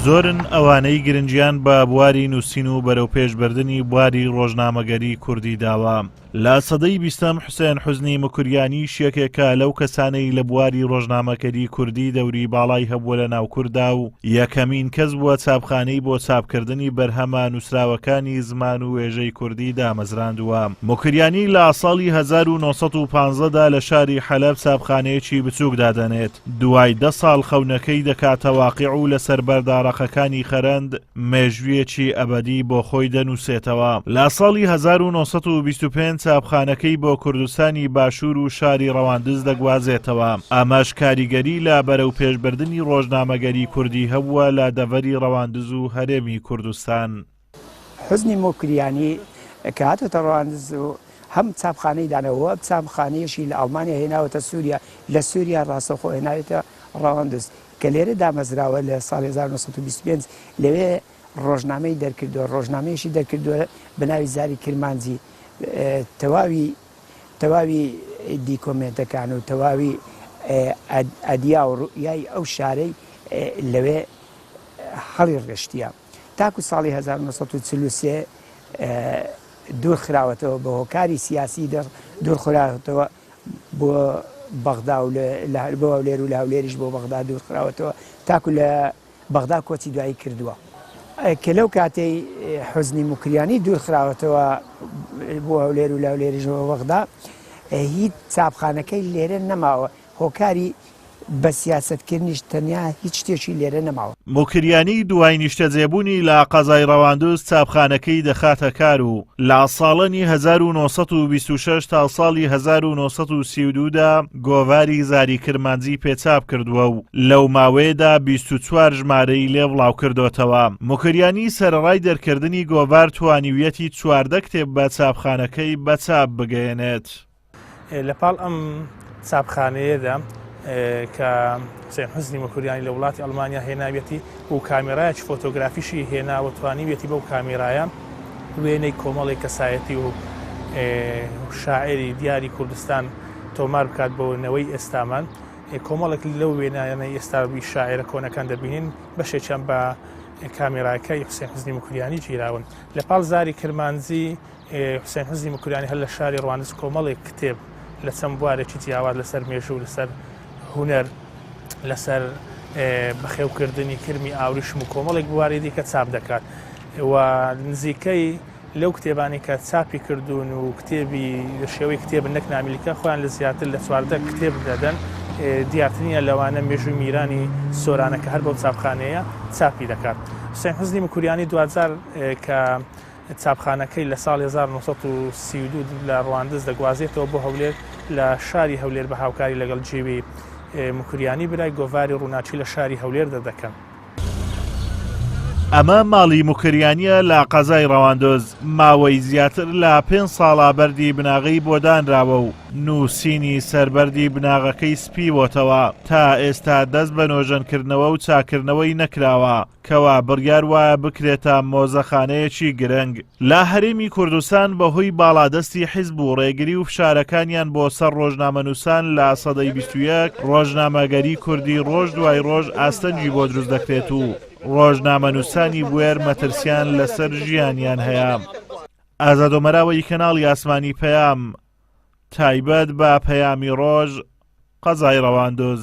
زۆرن ئەوانەی گرنگیان بە بواری نووسین و بەرەوپێشبردنی بواری ڕۆژنامەگەری کوردی داوە لە سەدەی بیستەم حوسێن حزنی مکوریانی شیەکێکە لەو کەسانەی لە بواری ڕۆژنامەکەری کوردی دەوری باڵای هەبووە لە ناو کووردا و یەکەمین کەس بووە چاپخانەی بۆ چاپکردنی بەرهەمە نووسراوەکانی زمان و وێژەی کوردی دامەزراندووە مکریانی لە ساڵی 1950دا لە شاری حەلب چاپخانەیەکی بچووک دادەنێت دوای دە ساڵ خەونەکەی دەکاتە واقیع و لەسەر بەردا ڕەقەکانی خەرەند مێژوویەکی ئەبەدی بۆ خۆی دەنووسێتەوە. لە ساڵی هەزار و نۆ سەد و بیست و پێنج چاپخانەکەی بۆ کوردستانی باشوور و شاری ڕەواندز دەگوازێتەوە، ئەمەش کاریگەری لە بەرەوپێشبردنی ڕۆژنامەگەری کوردی هەبووە لە دەڤەری ڕەواندز و هەرێمی کوردستان. حوسنی موکریانی کە هاتۆتە ڕواندز و هەم چاپخانەی داناوە و ئەم چاپخانەیەشی لە ئەڵمانیا هێناوەتە سووریا، لە سووریا ڕاستەوخۆ هێناویەتە ڕواندز کە لێرە دامەزراوە لە ساڵی هەزار و نۆ سەد و بیست و پێنج لەوێ ڕۆژنامەی دەرکردووە، ڕۆژنامەیەشی دەرکردووە بە ناوی زاری کرمانجی تەواوی تەواوی دیکۆمێنتەکان و تەواوی ئەدیا و ڕوئیای ئەو شارەی لەوێ هەڵیڕشتییە. تاکو ساڵی هەزار و نۆ سەد و چل و سێ دوورخراوەتەوە بە هۆکاری سیاسی دوورخراوەتەوە بۆ بەغدا و بۆ هەولێر و لە هەولێریش بۆ بەغدا دوورخراوەتەوە تاکو لە بەغدا کۆچی دوایی کردووە کە لەو کاتەی حزنی مکریانی دوورخراوەتەوە بۆ هەولێر و لە هەولێریش بۆ بەغدا هیچ چاپخانەکەی لێرە نەماوە هۆکاری بە سیاسەت کردنیش تەنیا هیچ شتێکی لێرە نەماوە. موکریانی دوای نیشتەجێبوونی لە قەزای ڕەواندز چاپخانەکەی دەخاتە کار و لە ساڵانی هەزار و نۆ سەد و بیست و شەش تا ساڵی هەزار و نۆ سەد و سی و دوو دا گۆڤاری زاری کرمانجی پێ چاپ کردووە و لەو ماوەیەدا بیست و چوار ژمارەی لێ بڵاو کردۆتەوە. موکریانی سەرەڕای دەرکردنی گۆڤار توانیویەتی چواردە کتێب بە چاپخانەکەی بە چاپ بگەیەنێت. لە پاڵ ئەم چاپخانەیەدا کە حسێن حزنی مەکوریانی لە وڵاتی ئەلمانیا هێناویەتی و کامێرایەکی فۆتۆگرافیشی هێناوە توانیویەتی بەو کامێرایە وێنەی کۆمەڵی کەسایەتی و شاعری دیاری کوردستان تۆمار بکات بۆ نەوەی ئێستامان کۆمەڵک لەو وێنایانە ئێستاوی شاعرە کۆنەکان دەبینین بەشێکیان بە کامێراکەی حسێن حزنی مکریانی گیراون لە پاڵ زاری کرمانجی حوسێن حزنی مکریانی هەر لە شاری ڕواندز کۆمەڵێک کتێب لە چەند بوارێکی جیاواز لەسەر مێژوو لەسەر هونەر لەسەر بەخێوکردنی کرمی ئاوریشم و کۆمەڵێک بواری دیکە چاپ دەکات و نزیکەی لەو کتێبانی کە چاپی کردوون و کتێبی شێوەی کتێب نەک نامیلکە خۆیان لە زیاتر لە چواردە کتێب دەدەن دیارترینە لەوانە مێژووی میرانی سۆرانەکە هەر بەو چاپخانەیە چاپی دەکات حسێن حزنی مکوریانی دوجار کە چاپخانەکەی لە ساڵی هەزار و نۆ سەد و سی و دوو لە ڕواندز دەگوازێتەوە بۆ هەولێر، لە شاری هەولێر بە هاوکاری لەگەڵ جیوی موکریانی برای گۆڤاری ڕووناکی لە شاری هەولێر دەردەکەن. ئەمە ماڵی موکریانییە لە قەزای ڕەواندز، ماوەی زیاتر لە پێنج ساڵە بەردی بناغەی بۆ دانراوە و نووسینی سەر بەردی بناغەکەی سپیوەتەوە، تا ئێستا دەست بە نۆژەنکردنەوە و چاککردنەوەی نەکراوە، کەوا بڕیار وایە بکرێتە مۆزەخانەیەکی گرنگ لە هەرێمی کوردستان بەهۆی باڵادەستی حیزب و ڕێگری و فشارەکانیان بۆ سەر ڕۆژنامەنووسان لە سەدەی بیست و یەک ڕۆژنامەگەری کوردی ڕۆژ دوای ڕۆژ ئاستەنگی بۆ دروست دەکرێت و ڕۆژنامەنووسانی بوێر مەترسیان لەسەر ژیانیان هەیە. ئازادۆ مەراوەی کەناڵی ئاسمانی پەیام تایبەت بە پەیامی ڕۆژ قەزای ڕەواندز.